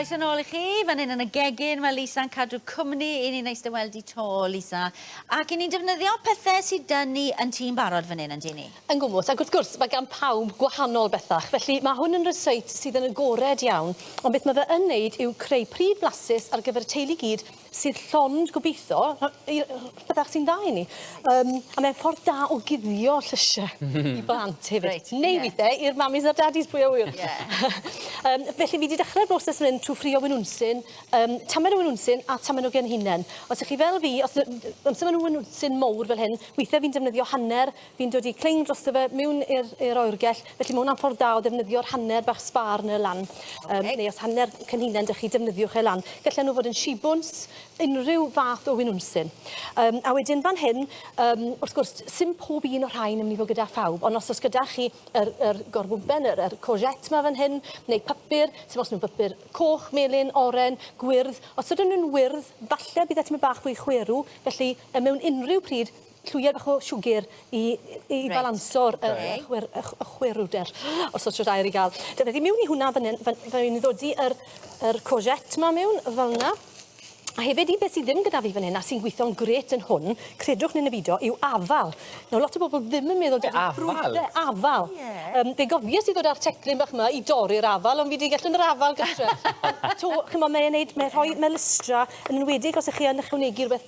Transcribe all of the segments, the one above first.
Croeso nôl i chi, fan hyn yn y gegin, mae Lisa'n cadw cwmni i ni neis dy weld i to, Lisa. Ac i ni'n defnyddio pethau sydd dyn ni yn tîm barod fan hyn, yn dyn ni? Yn gwmwth, ac wrth gwrs, mae gan pawb gwahanol bethach, felly mae hwn yn rysáit sydd yn agored iawn, ond beth mae fe yn neud yw creu pryd flasus ar gyfer y teulu gyd sydd llond gobeithio yy yy bydda chdi'n dda i ni yym a mae'n ffordd da o guddio llysie i blant hefyd. Reit ie. Neu withe i'r mamis a'r dadis pwy a ŵyr? Ie. Yym felly fi 'di dechre'r broses myn 'yn trw ffrio winwnsyn yym tamaid o winwnsyn a tamaid o genhinen. Os 'ych chi fel fi os yy amser ma' 'na winwnsyn mowr fel hyn withe fi'n defnyddio hanner fi'n dod i cling drosto fe mewn i'r i'r oergell felly ma' hwnna'n ffordd da o ddefnyddio'r hanner bach sbar 'na lan. Ocê. Yym neu os hanner cynhunen 'da chi defnyddiwch e lan. Gelle nhw fod yn shibwns, unrhyw fath o winwnsyn. Yym a wedyn fan hyn yym wrth gwrs sim pob un o'r rhain yn myn' i fod gyda phawb ond os o's gyda chi yr yr gorbwmpen yr yr courgette 'ma fan hyn neu pypyr sim os ma' pypyr coch, melyn, oren, gwyrdd os ydyn nhw'n wyrdd falle bydd e tymed bach fwy chwerw felly yy mewn unrhyw pryd Llwyau bach o siwgr i i balanso'r y y chwyr- y chw- y chwerwder os o's shwt air i ga'l. Dyna fi miwn i hwnna fyn 'yn fyn fy' fi'n ddodi yr yr courgette 'ma miwn fel 'na. A hefyd un peth sy ddim gyda fi fyn 'yn a sy'n gwitho'n grêt yn hwn, credwch ne' ne' bido, yw afal. Nawr lot o bobol ddim yn meddwl dydi ffrwd... Afal? Ie afal. Ie. Yym fe gofies i ddod â'r teclyn bach 'ma i dorri'r afal on' fi 'di gallu myn' afal gytre. Ond 'to ch'mo' mae e'n neud mae e'n rhoi ma' lystra yn enwedig os 'ych chi yn ychwanegu rwbeth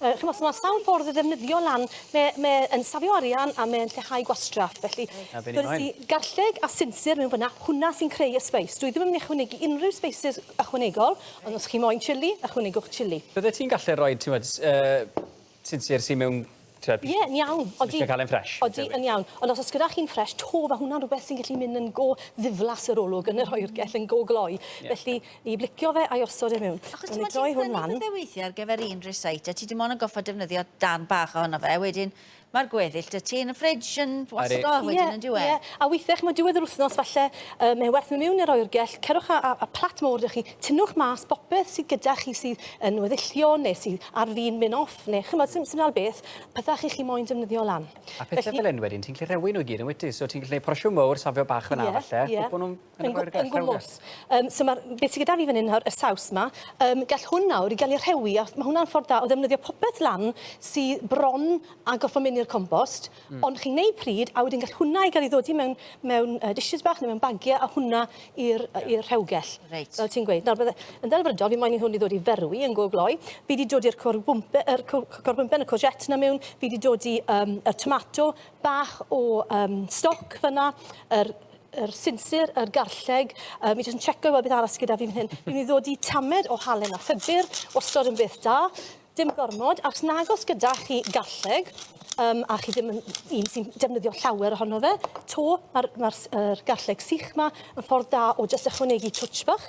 Yy, ch'mo', so ma' sawl ffordd o ddefnyddio lan. Mae e, mae e yn safio arian a mae e'n lleihau gwastraff, felly... Na, fi'n hoffi hwn. ...garlleg a sinsir mewn fynna, hwnna sy'n creu y sbeis. Dwi ddim yn myn' i ychwanegu unrhyw sbeisys ychwanegol, ond os chi moyn chilli, ychwanegwch chilli. Byddet ti'n gallu rhoi, ti'mod, s- yy, sinsir sy mewn, ti'mod... Ie, yn iawn, odi. ...os ti'n cael e'n ffresh. Odi, yn iawn. Ond os o's gyda chi'n ffresh 'to, ma' hwnna'n rwbeth sy'n gallu myn' yn go ddiflas yr olwg yn yr oergell, yn go gloi. Ie. Felly, I blicio fe a'i osod e mewn. Achos ti'n gwybod ti'n tynnu pethau weithiau ar gyfer un recite a ti dim ond yn goffa defnyddio darn bach ohono fe, wedyn mae'r gweddill dy ti yn y fridge yn wastgo wedyn yn dyw e? Ie, ie, a weithiau chimod diwedd yr wythnos falle yy mae werth mynd mewn i'r oergell, cerwch a, a, a plat mowr da chi, tynnwch mas bopeth sydd gyda chi sydd yn weddillio neu sydd ar fin mynd off neu chimod sy'n sy'n dal beth, pethau chi chi moyn defnyddio lan. A pethau fel hyn wedyn ti'n gallu rhewi nhw i gyd yn wyt ti, so ti'n gallu neud porsiwn mowr, safio bach fan'na falle, cwpl nhw'n Yn y oergell lawr 'na. Yn gwmws. Yym so ma'r... Be' sy gyda fi fan 'yn nawr, y saws 'ma, yym gall hwn nawr ga'l 'i rhewi a ma' hwnna'n ffordd da o ddefnyddio popeth lan sy bron a gorffo myn' i'r compost. Hmm. Ond chi'n neud pryd a wedyn gall hwnna i ga'l 'i ddodi mewn mewn yy dishes bach ne' mewn bagie a hwnna i'r yy i'r rhewgell. Reit. Fel ti'n gweud. Nawr bydde... Yn ddelfrydol fi moyn i hwn i ddod i ferwi yn go gloi. Fi 'di dodi'r corbwmpe- yr co- co- corbwmpen y courgette 'na miwn, fi 'di dodi yym y tomato bach o yym stoc fan 'na yr yr sinsir, yr garlleg. Um, fi jyst yn checo i weld beth arall sydd gyda fi fan hyn. Fi'n mynd i ddod i tamed o halen a ffydur, wastad yn beth da. Dim gormod, achos nagos gyda chi garlleg, um, a chi ddim yn un sy'n defnyddio llawer ohono fe, to, mae'r ma er garlleg sych yma yn ffordd da o jyst ychwanegu twtsh bach.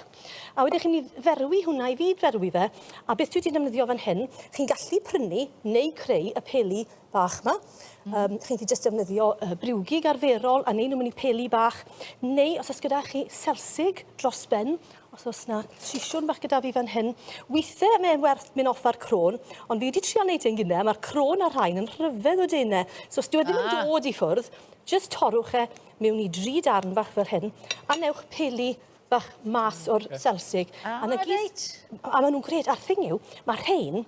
A wedyn chi'n mynd i ferwi hwnna i fyd ferwi fe, a beth dwi wedi'n defnyddio fan hyn, chi'n gallu prynu neu creu y peli bach yma. Mm. Um, chi'n gallu jyst defnyddio uh, briwgig arferol a neu nhw'n mynd i peli bach, neu os oes gyda chi selsig dros ben, os oes na sisiwn bach gyda fi fan hyn, weithiau mae'n werth mynd off ar crôn, ond fi wedi trio wneud ein gynnau, mae'r crôn a'r rhain yn rhyfedd o denau, so os dwi wedi mynd ah. dod i ffwrdd, jyst torwch e mewn i dri darn bach fel hyn, a newch peli bach mas o'r selsig. Ah, a, na gyd, a maen nhw'n gred. A'r thing yw, mae rhain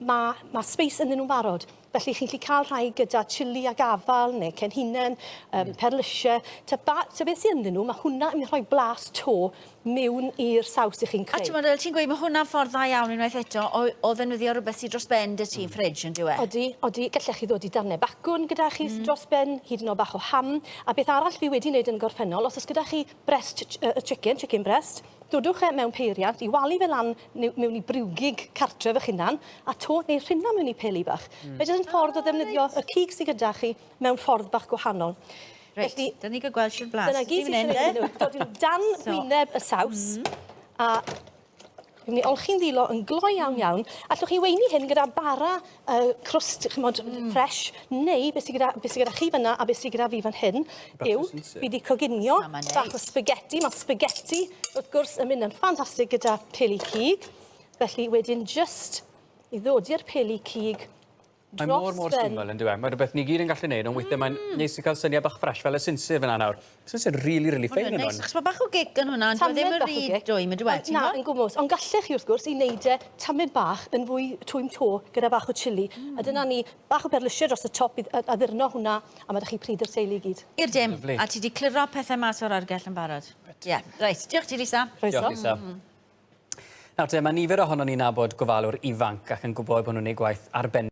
Mae, mae space ynddyn nhw'n barod. Felly chi'n gallu cael rhai gyda chili a gafal neu cen hunain, um, mm. perlysiau. Ta, ba, ta beth sy'n ynddyn nhw, mae hwnna yn rhoi blas to mewn i'r saws i chi'n creu. A ti'n meddwl, ti'n gweud, mae hwnna'n ffordd dda iawn unwaith eto o, o ddefnyddio rhywbeth sy'n dros ben dy ti'n mm. ffridge yn diwe? Odi, odi. Gallech chi ddod i darnau bacwn gyda chi mm. dros ben, hyd yn o bach o ham. A beth arall fi wedi wneud yn gorffennol, os oes gyda chi breast uh, chicken, chicken breast, dodwch e mewn peiriant i walu fe lan neu mewn i briwgig cartref eich hunan, a to neu rhina mewn i peli bach. Mm. Mae jyst yn ffordd o ddefnyddio y cig sydd gyda chi mewn ffordd bach gwahanol. Reit, Felly, da ni gael gweld sy'n blas. Dyna gyd sy'n gwneud nhw. Dod i'w dan so. gwyneb y saws, mm -hmm. a Rwy'n ni olchi'n ddilo yn glo iawn iawn. Allwch chi weini hyn gyda bara uh, crust, chymod, mm. fresh, neu beth sydd gyda, be sy gyda chi fyna a beth sydd gyda fi fan hyn yw, fi wedi coginio bach o spaghetti. Mae spaghetti, wrth gwrs, yn mynd yn ffantastig gyda peli cig. Felly, wedyn, just i ddod i'r peli cig, Mae mor mor syml yn dweud. Mae rhywbeth ni gyd yn gallu gwneud, ond weithiau mae'n mm. neis i cael syniad bach ffres fel y sinsir fyna nawr. This is really really fine yn hwn. Achos ma' bach o gig yn hwnna, dyw e ddim yn rhy dwym yndyw e? Na, yn gwmws, ond gallech chi wrth gwrs i wneud e tamed bach yn fwy twym 'to gyda bach o chili, a dyna ni, bach o berlysiau dros y top i addurno hwnna, a ma' 'da chi pryd i'r teulu i gyd. I'r dim, a ti 'di cliro pethe mas o'r argell yn barod. Ie, reit, diolch ti Lisa. Croeso. Diolch Lisa. Nawr te, mae nifer ohonon ni'n nabod gofalwr ifanc ac yn gwybod bod nhw'n gwneud gwaith arbennig.